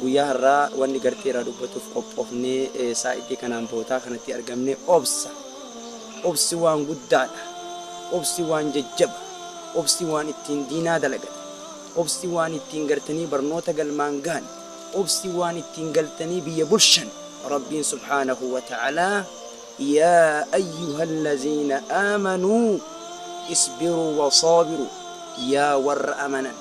Guyyaa har'aa wanni gartee irraa dubbatuuf qophoofnee saa'itii kanaan bootaa kanatti argamne obsa. Obsi waan guddaadha. Obsi waan jajjaba. Obsi waan ittiin diinaa dalagan. Obsi waan ittiin gartanii barnoota galmaan gahan. Obsi waan ittiin galtanii biyya bulshan. Rabbiin subhaanahu wa ta'aalaa Yaa ayyuhal laziina aamanuu isbiruu wa saabiruu Yaa warra amanan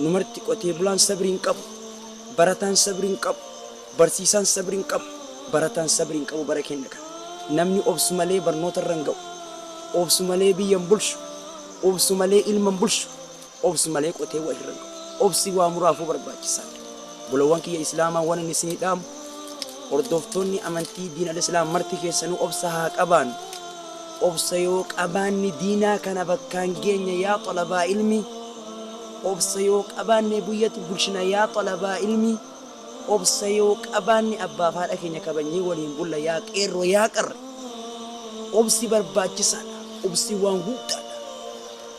Nu marti qotee bulaan sabri hin qabu, barataan sabri hin qabu, barsiisaan sabri hin qabu, barataan sabri hin qabu bara keenna kana. Namni obsu malee barnoota irra hin ga'u. Obsu malee biyya hin bulchu. Obsu malee ilma hin bulchu. Obsu malee qotee wal irra hin ga'u. Obsi waa muraafuu barbaachisaa dha. Bolowwan kiyya Islaamaa waan ani isinii dhaamu, hordoftoonni amantii diin al-Islaam marti keessanuu obsa haa qabaannu. Obsa yoo qabaanne diinaa kana bakkaan geenya yaa xalabaa ilmi Obsa yoo qabaanne buyyatu bulchina yaa xalabaa ilmi Obsa yoo qabaanne abbaaf haadha keenya kabajnee waliin bulla yaa qeerroo yaa qarre Obsi barbaachisaadha obsi waan guddaadha.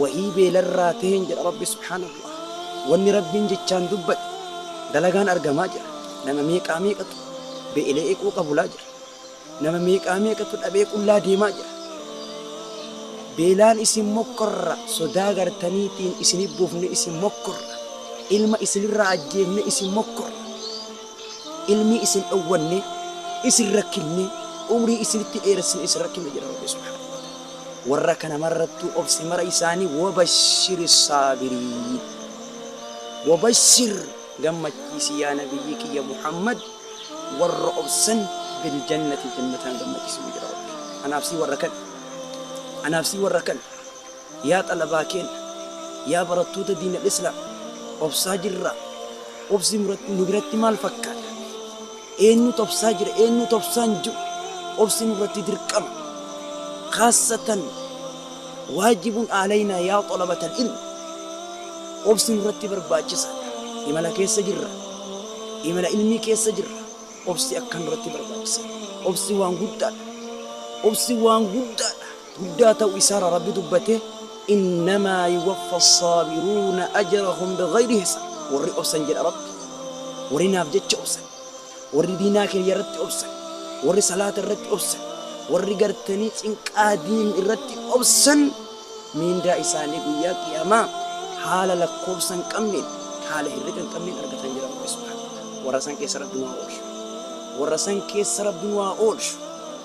wahii beelarraa taheen jedha Rabbi subhaanallah. Wanni Rabbiin jechaan dubbate dalagaan argamaa jira. Nama meeqaa meeqatu beela'ee qooqa bulaa jira. Nama meeqaa meeqatu dhabee qullaa deemaa jira. Beelaan isin mokkorra, sodaa gartaniitiin isin hin buufne isin mokkorra, ilma isinirraa ajjeefne isin mokkorra. ilmii isin dhowwanne isin rakkinne umrii isinitti dheeressine isin rakkinne jedha rabbi subhaanahu warra kana marrattuu obse mara isaanii wabashiri saabiriin wabashir gammachiisi yaa nabiyyii kiyya muhammad warra obsan biljannati jannataan gammachiisi jedha rabbi anaaf sii warra kan anaaf sii warra kan Yaa xalabaa keenna, yaa barattoota diinal islaam, obsaa jirraa? Obsi nu biratti maal fakkaata? Eennuutu obsaa jira? Eennuutu obsaa hin jiru? Obsi nurratti dirqama. Khaassatan waajibun aalaynaa yaa xalabatal ilmi. Obsi nurratti barbaachisaadha. Imala keessa jirra. Imala ilmii keessa jirra. Obsi akkaan nurratti barbaachisa. Obsi waan guddaadha. Obsi waan guddaadha. guddaa ta'u isaara Rabbi dubbate innamaa yuwaffa saabiruuna ajarahum bighayri hisaab warri obsan jedha Rabbi warri naaf jecha obsan warri diinaa kiyya irratti obsan warri salaata irratti obsan warri gartanii cinqaa diin irratti obsan miindaa isaanii guyyaa qiyaamaa haala lakkoofsa hin qabneen haala hirriba hin qabneen argatan jedha Rabbi subhaanahu wa ta'aala warra san keessa Rabbi nu haa oolchu warra san keessa Rabbi nu haa oolchu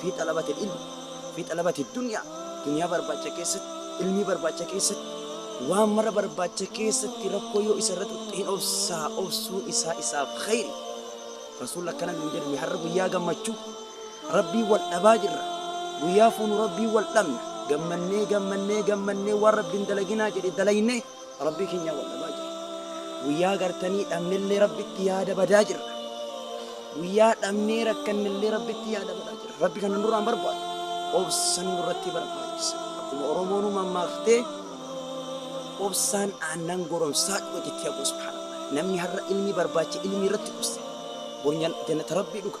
Fii xalabatil ilmi fii xalabati dunyaa Dunyaa barbaacha keessatti Ilmii barbaacha keessatti Waan mara barbaacha keessatti Rakkoo yoo isa irra tuqxe hin obsaa Obsuun isaa isaaf khayri Rasuulli akkana nuun jedhe Mee har'a guyyaa gammachuu Rabbiin wal dhabaa jirra Guyyaa fuunu Rabbiin wal dhabna Gammannee gammannee gammannee Waan Rabbiin dalaginaa jedhe dalaynee Rabbii kenyaa wal dhabaa jirra. Guyyaa gartanii dhabnellee Rabbitti yaada badaa jirra. Guyyaa dhabnee rakkannellee Rabbitti yaada badaa jirra. Rabbi kana nurraa hin barbaadu. Obsan nurratti barbaachisa. Akkuma Oromoon mammaaktee obsaan aannan goromsaa dhuga jettee aboo subhaanallah. Namni har'a ilmi barbaacha ilmi irratti obse. Bor jannata Rabbii dhuga.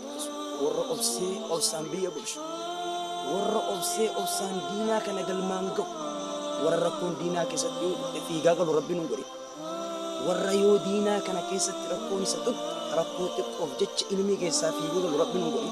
Warra obsee obsaan biyya bulchu. Warra obsee obsaan diinaa kana galmaan ga'u. Warra rakkoon diinaa keessatti yoo dhufte fiigaa galu rabbi nun godhe. Warra yoo diinaa kana keessatti rakkoon isa tuqxe rakkoo xiqqoof jecha ilmii keessaa fiiguu galu rabbi nun godhe.